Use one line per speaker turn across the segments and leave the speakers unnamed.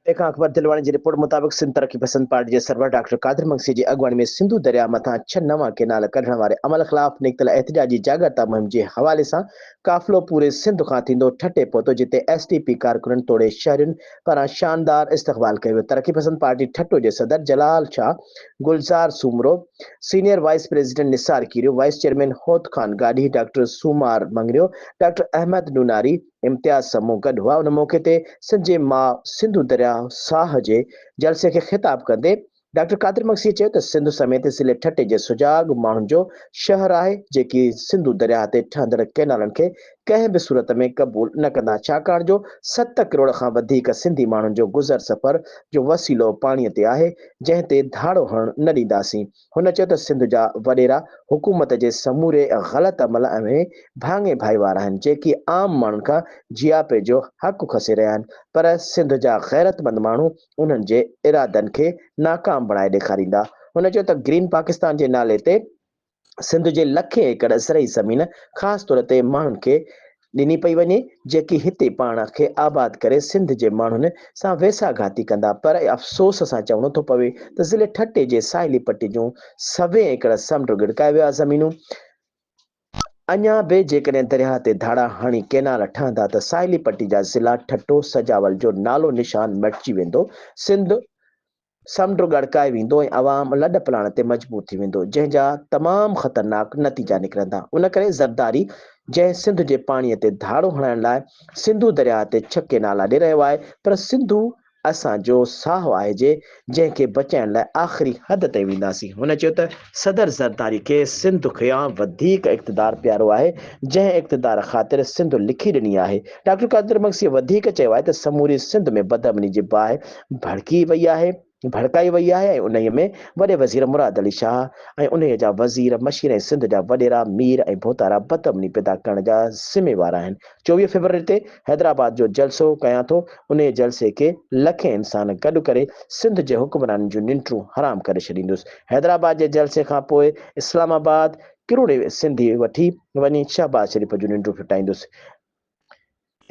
تنهن کان اڪبر دلواڻي جي رپورٽ مطابق سنڌ ترقي پسند پارٽي جي سربراهه ڊاڪٽر قادر مگسيء جي اڳواڻي ۾ سنڌو درياهه مٿان ڇهه نوان ڪئنال ڪڍڻ واري عمل خلاف نڪتل احتجاجي جاڳرتا مهم جي حوالي سان قافلو پوري سنڌ کان ٿيندو ٺٽي پهتو جتي ايس ڊي پي ڪارڪنن توڙي شهرين پاران شاندار استقبال ڪيو ويو ترقي پسند پارٽي ٺٽو جي صدر Jalal Shah Gulzar Soomro senior vice president Nisar Khero vice chairman Hot Khan Gadhi doctor Somar Mangrio doctor Ahmed Nonari Imtiaz سان مون گڏ هئا، ان موقعي تي سنڌ جي ماء سنڌو درياء ساهه جي جلسي کي خطاب ڪندي ڊاڪٽر قادر مگسيء چيو ته سنڌ سميت ضلعي ٺٽي جي سجاڳ ماڻهن جو شهر آهي جيڪي سنڌو درياهه تي ٺهندڙ ڪئنالن کي ڪنهن به صورت ۾ قبول نه ڪندا ڇاڪاڻ جو ست ڪروڙ کان وڌيڪ سنڌي ماڻهن جو گذر سفر جو وسيلو پاڻي تي آهي جنهن تي ڌاڙو هڻڻ نه ڏينداسين. هن چيو ته سنڌ جا وڏيرا حڪومت جي سموري غلط عمل ۽ ڀاڱي ڀائي وار آهن جيڪي عام ماڻهن کان جياپي جو حق کسي رهيا آهن پر سنڌ جا غيرتمند ماڻهو انهن جي ارادن کي ناڪام بڻائي ڏيکاريندا هن چيو ته گرين پاڪستان جي نالي تي سنڌ جي لکين ايڪڙ زرعي زمين خاص طور تي ماڻهن کي ڏني پئي وڃي جيڪي هتي پاڻ کي آباد ڪري سنڌ جي ماڻهن سان ويساهه گهاتي ڪندا پر افسوس سان چوڻو ٿو پوي ته ضلعي ٺٽي جي ساحلي پٽي جون سوين ايڪڙ سمنڊ ڳڙڪايو ويا زمينون اڃا به جيڪڏهن درياهه تي ڌاڙا هڻي ڪينال ٺهندا ته ساحلي پٽي جا ضلعا ٺٽو سجاول جو نالو نشان مٽجي ويندو سنڌ سمنڊ ڳڙڪائي ويندو ۽ عوام لڏ پلاڻ تي مجبور ٿي ويندو، جنهن جا تمام خطرناڪ نتيجا نڪرندا. ان ڪري زرداري جنهن سنڌ جي پاڻي تي ڌاڙو هڻائڻ لاء سنڌو درياهه تي ڇڪي نالا ڏي رهيو آهي پر سنڌو اسان جو ساهه آهي جي جنهن کي بچائڻ لاء آخري حد تائين وينداسين. هن چيو ته. صدر زرداري کي سنڌ کيان وڌيڪ اقتدار پيارو آهي، جنهن اقتدار خاطر سنڌ لکي ڏني آهي. ڊاڪٽر قادر مگسيء وڌيڪ چيو آهي ته سموري سنڌ ۾ بدامني جي باهه ڀڙڪي وئي آهي، ڀڙڪائي وئي آهي ۽ انهيء ۾ وڏي وزير مراد علي شاهه ۽ انهيء جا وزير، مشير ۽ سنڌ جا وڏيرا، مير ۽ ڀوتارا بدامني پيدا ڪرڻ جا ذميوار آهن. چوويهه فيبروري تي حيدرآباد جو جلسو ڪيان ٿو، انهيء جلسي کي لکين انسان گڏ ڪري سنڌ جي حڪمرانن جون ننڊون حرام ڪري ڇڏيندس، حيدرآباد جي جلسي کان پوء اسلام آباد ڪروڙين سنڌي وٺي وڃي شهباز شريف جون ننڊون ڦٽائيندس،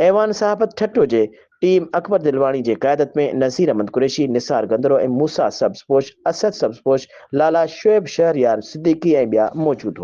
ايوان صحافت ٺٽو جي ٽيم اڪبر دلواڻي جي قيادت ۾ نذير احمد قريشي، نثار گندرو ۽ موسيٰ سبز پوش، اسد سبز پوش، لالا شعيب شهريار صديقي ۽ ٻيا موجود هئا.